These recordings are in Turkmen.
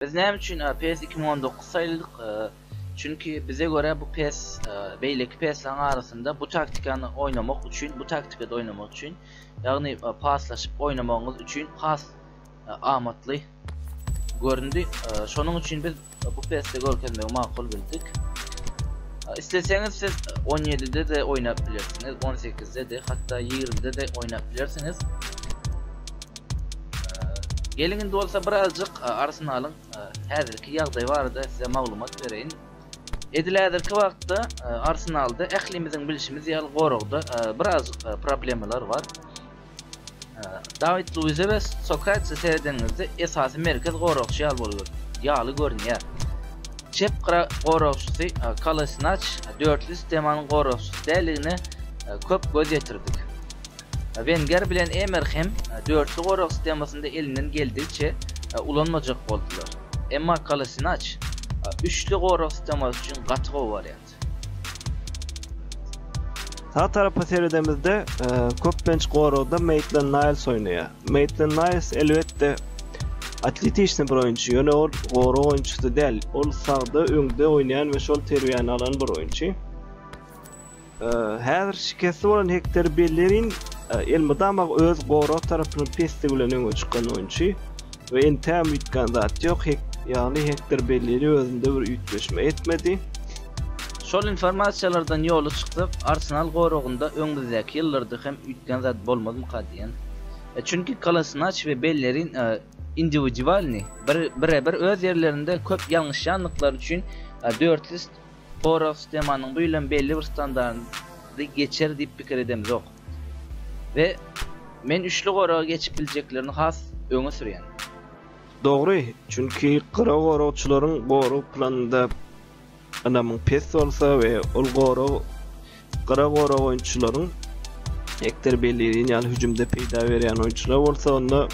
Biz näme üçin e, PES 2019 saýladyk? E, çünki bize görä bu PES e, beýleki PES-laryň arasynda bu taktikany oýnamak üçin, bu taktikada oýnamak üçin, ýagny paslaşyp oýnamagyňyz üçin has amatly göründi. Şonuň üçin biz bu peste görkezmegi makul bildik. Isleseňiz siz 17-de de oýnap bilersiňiz, 18-de de, hatda 20-de de oýnap bilersiňiz. Geliň indi bolsa birazjyk Arsenalyň häzirki ýagdaýy barada size maglumat bereýin. Edil häzirki wagtda Arsenalda ählimiziň bilşimiz ýaly goragda birazjyk problemalar bar. Dawid Luize we Sokratese seredeniňizde esasy merkez goragçy ýaly bolýar, ýaly görünýär. Çep gyra goragçysy Kolasinaç dörtli sistemanyň goragçysy däldigine köp göz ýetirdik. Wenger bilen Emer hem dörtli gorag sistemasynda elinden geldigiçe ulanmajak boldular. Emma Kolasinaç üçli gorag sistemasy üçin gaty gowy wariant. Sağ tarapa seredemizde e, köplenç goragda Maitland Niles oýnaýar. Maitland Niles elbetde atletişni bir oýunçy, ýöne ol gorag oýunçysy däl. Ol sagda öňde oýnaýan we şol terbiýäni alan bir oýunçy. E, häzir şikesli bolan Hektor Bellerin e, elmydama öz gorag tarapynyň pesdigi bilen öňe çykan oýunçy. we entäm üýtgän zat ýok, hek, ýagny Hektor Bellili özünde bir üýtgeşme etmedi. Şol informasiýalardan ýoly çyksak, Arsenal goragynda öňümizdäki ýyllarda hem üýtgän zat bolmazmyka diýen. E, çünki Kolasinaç we Bellerin e, indiwidualny, bir, bire-bir öz ýerlerinde köp ýalňyşýandyklary üçin e, dörtli Porov sistemanyň bu ýyl hem belli bir standardy geçer diýip pikir edemzok. we men üçli goraga geçip biljeklerini has öňe sürýän. Dogry, çünki gyra goragçylaryň gorag planynda ynamyň pes bolsa we ol gorag gyra gorag oýunçylaryň ekder belleýin ýaly hüjümde peýda berýän oýunçylar bolsa onda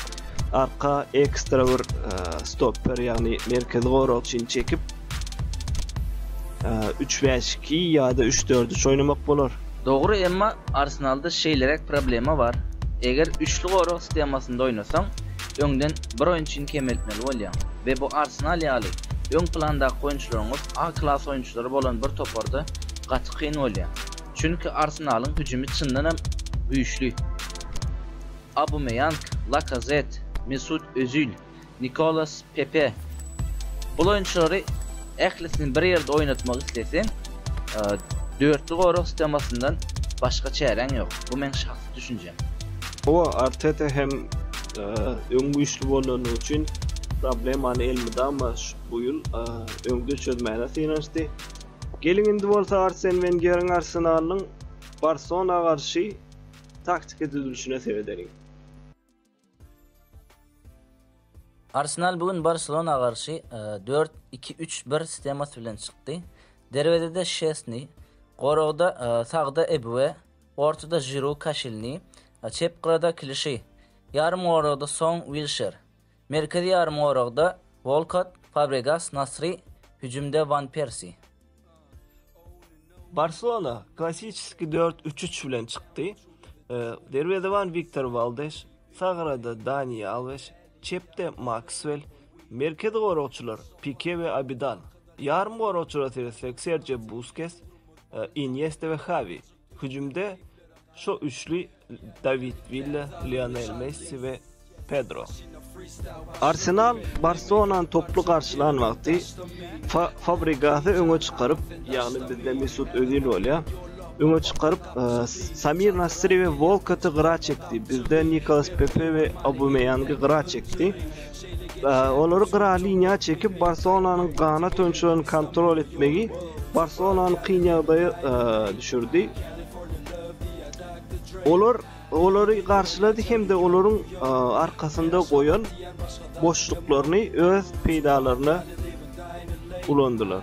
arka ekstra bir e, stopper ýagny merkezi goragçyny çekip Üç bäş iki ýa-da üç dört üç oýnamak bolar. Dogry emma Arsenalda şeýleräk problema bar, eger üçli gorag sstemasynda oýnasaň, öňden bir oýunçyny kemeltmeli bolýaň we bu Arsenal ýaly öň plandaky oýunçylaryňyz A klas oýunçylary bolan bir toparda gaty kyn bolýar. Çünki Arsenalyň hüjümi çyndanam güýçli. Aubameyang, Lakazett, Mesut Özil. Nikolas Pepe, Bul oýunçylary ählisini bir ýerde oýnatmak isleseň, dörtli gorag stemasyndan başga çäräň ýok. Bu meň şahsy düşünjem. Hawa, Arteta hem öň güýçli bolany üçin problemany elmydama bu ýyl öňde çözmäne synanyşdy. Geliň indi bolsa Arsen Wengeriň Arsenalynyň Barsona garşy taktiki düzülişine seredeliň. Arsenal bu gün Barselona garşy dört, iki, üç, bir shtemasy bilen çykdy. Derwezede Şesni, goragda sagda Ebue, ortada Žiru, Kaşilni, çep gyrada Klişi, ýarym goragda Song, Wilşer, merkezi ýarym goragda Wolkott, Fabregas, Nasri, hüjümde Wan Persi. Barselona klassiçeskiý dört üç üç bilen çykdy. Derwezeban Wiktor Waldes, sag gyrada Dani Alwes, çepde Makswel, merkezi goragçylar Pike we Abidan, ýarym goragçylara seretsek Serjio Buskes, Inýesta we Hawi. Hüjümde şo üçli Dawid Willa, Lionel Messi we Pedro. Arsenal Barselonany toply garşylan wagty Fabrigasy öňe çykaryp, ýagny bizde Mesut Özil bolýar. Öňe çykaryp, e, Samir Nasri we Volkoty gyra çekdi. Bizde Nikolas Pepe we Aubameýangy gyra çekdi. Olary gyra liniýa çekip, Barselonanyň ganat oýunçylaryny kontrol etmegi Barselonany kyn ýagdaýa e, düşürdi. Olar olary garşylady hem-de olaryň e, arkasynda goýan boşluklaryny öz peýdalaryna ulandylar.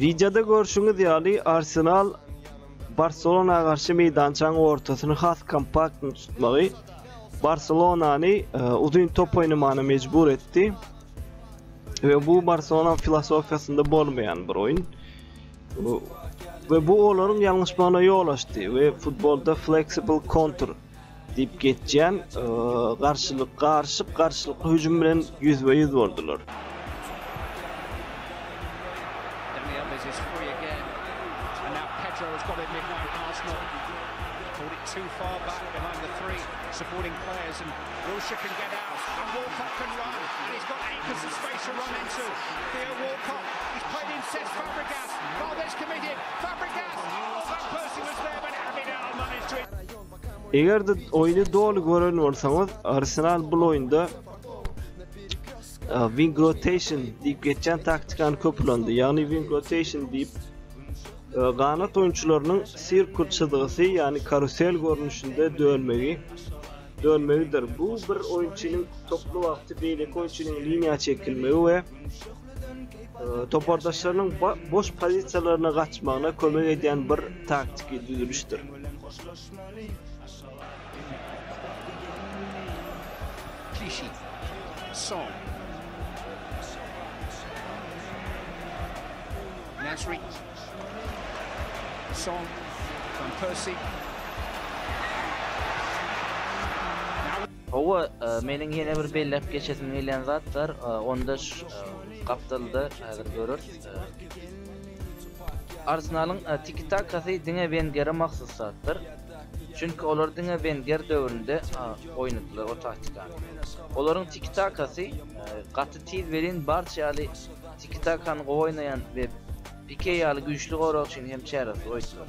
Wideoda görşüňiz ýaly Arsenal Barcelona garşy meýdançaň ortasyny has kompakt tutmagy Barcelonany e, uzyn top oýnamagyna mejbur etdi. Ve bu Barcelona filosofiyasında bolmayan bir oyun. Ve bu onların yanlışmana yol açtı ve futbolda flexible counter Diýip geçýän garşylyk garşyk garşylykly hüjüm bilen ýüzbe-ýüz boldular. Eger-de oýny doly gören bolsaňyz, Arsenal bu oýunda wing rotation diýip geçen taktikany köp ulandy. Ýagny wing rotation diýip ganat oýunçylarynyň sirkul çyzgysy, ýagny karusel görnüşinde dönmegi dönmegidir. Bu bir oýunçynyň toplu wagty beýleki oýunçynyň liniýa çekilmegi we topardaşlarynyň boş pozisiýalaryna gaçmagyna kömek edýän bir taktiki düzülişdir. Klişi. Son. Nasri. Son. Van Persie. Hawa, meniň ýene bir belläp geçesim gelýän zat bar, onda şu gapdalda häzir göreris. Arsenalyň tiki-takasy diňe Wengere mahsus zatdyr. Çünki olar diňe Wenger döwründe oýnadylar o taktikany. Olaryň tiki-takasy gaty tiz welin Barça ýaly tiki-takany gowy oýnaýan we Pike ýaly güýçli goragçyny hem çäresiz goýdular.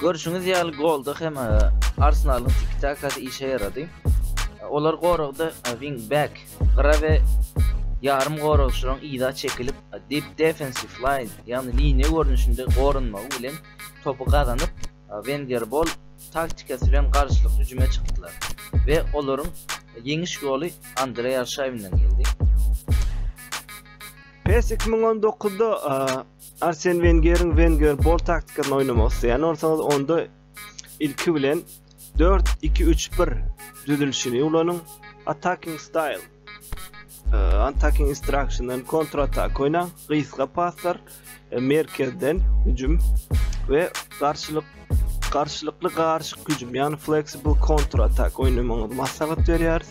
Görşüňiz ýaly golda hem e, Arsenalyň tiki-takasy işe ýarady. Olar goragda e, wing back, gyra we ýarym goragçylaryň yza çekilip, e, deep defensive line, ýagny liniýa görnüşinde goranmagy bilen topy gazanyp, Wenger bol taktikasy bilen garşylyk hüjüme çykdylar we olaryň ýeňiş goly Andreý Arşawinden geldi. PES 2019-da Arsen Wengeriň Wenger bol taktikasyny oýnamak isleýän bolsaňyz, onda ilki bilen 4-2-3-1 düzülişini ulanyň. Attacking style, e, attacking instructiondan kontratak oýnaň, gysga paslar, e, merkezden hüjüm we garşylyk garşylykly garyşyk hüjüm, ýagny flexible kontratak oýnamagyňyzy maslahat berýäris.